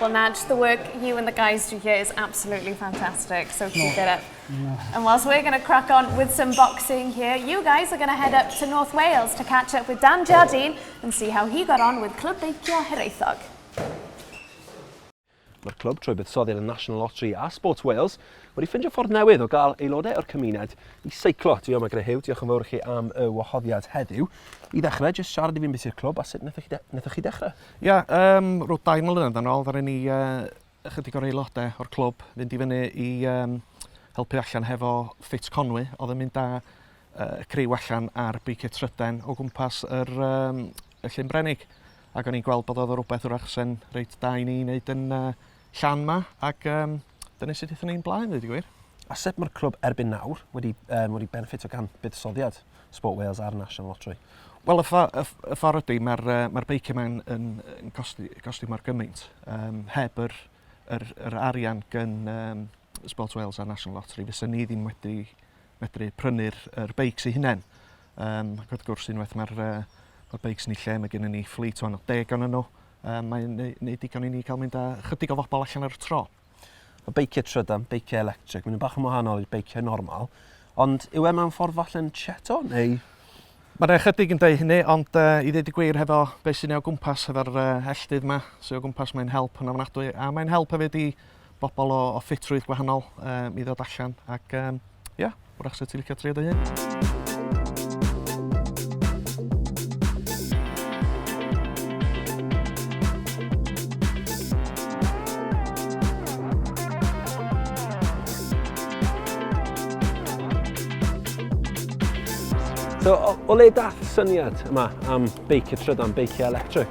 Well, Naj, the work you and the guys do here is absolutely fantastic, so keep it up. And whilst we're going to crack on with some boxing here, you guys are going to head up to North Wales to catch up with Dan Jardine and see how he got on with Clwb Beicio Hiraethog. Mae'r clwb trwy buddsoddi ar y National Lottery a Sports Wales wedi ffindio ffordd newydd o gael aelodau o'r cymuned i seiclo. Dwi yma gyda Hugh, diolch yn fawr i chi am y wahoddiad heddiw. I ddechrau, jyst siarad i fi'n beth i'r clwb a sut wnaethoch chi, de chi ddechrau? Ia, yym, rhyw dau mlynedd yn ôl ddaru ni yy ychydig o'r aelode o'r clwb fynd i fyny i yym helpu allan hefo Fit Conwy oedd yn mynd â yy y criw allan ar beiciau tryden o gwmpas yr yym y Llyn Brenig ac o'n i'n gweld bod oedd o rwbeth 'w'rach se'n reit da i ni neud yn yy Llan 'ma ac yym dyna sut aethon ni'n blaen, dweud y gwir. A sut mae'r clwb erbyn nawr wedi, um, wedi benefitio gan buddsoddiad Sport Wales a'r National Lottery? Wel, y, ffa, y, y ffordd ydy, mae'r uh, mae beiciau mae'n yn, yn costi, costi mor gymaint. Um, heb yr, yr, yr arian gan um, Sport Wales a National Lottery, fysa ni ddim wedi medru prynu'r er beics eu hunain. Um, ac wrth gwrs, unwaith mae'r uh, beics ni lle, mae gennym ni fflyd o'n o deg o'n nhw, um, mae'n neud digon i ni cael mynd â chydig o fobl allan ar y tro. Y beiciau trydan, beiciau electric, mae'n bach yn wahanol i'r beiciau normal, ond yw e mewn ffordd falle'n cheto neu Mae'n ychydig yn dweud hynny, ond uh, i ddweud y gwir hefo beth sy'n ei o gwmpas, hefo'r uh, elldydd yma sy'n ei o gwmpas, mae'n help yn ofnadwy, a mae'n help hefyd i bobl o, o ffitrwydd gwahanol um, i ddod allan ac um, yeah, wrach sy'n ti'n licio trio dy hun. So, o, o le dath syniad yma am beicio trydan, beicio electric?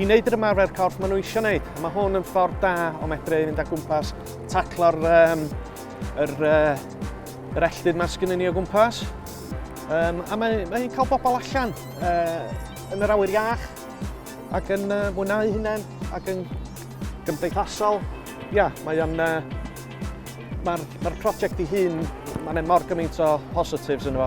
i wneud yr ymarfer corff maen nhw eisiau wneud. A mae hwn yn ffordd da o medru i fynd â gwmpas, taclo'r um, yr, uh, yr elltyd mae sgynnyn ni o gwmpas. Um, a mae, mae hi'n cael bobl allan uh, yn yr awyr iach ac yn uh, mwynhau hunain ac yn gymdeithasol. Ia, yeah, mae o'n... Uh, Mae'r ma prosiect ei hun, mae'n mor gymaint o positives yn efo.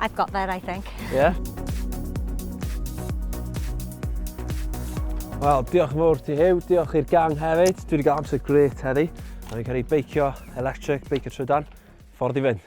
I've got there, I think. Yeah? Wel, diolch yn fawr ti Huw, diolch i'r gang hefyd. Dwi wedi cael amser gret heddi. A fi'n cael ei beicio electric, beicio trydan. Ffordd i fynd.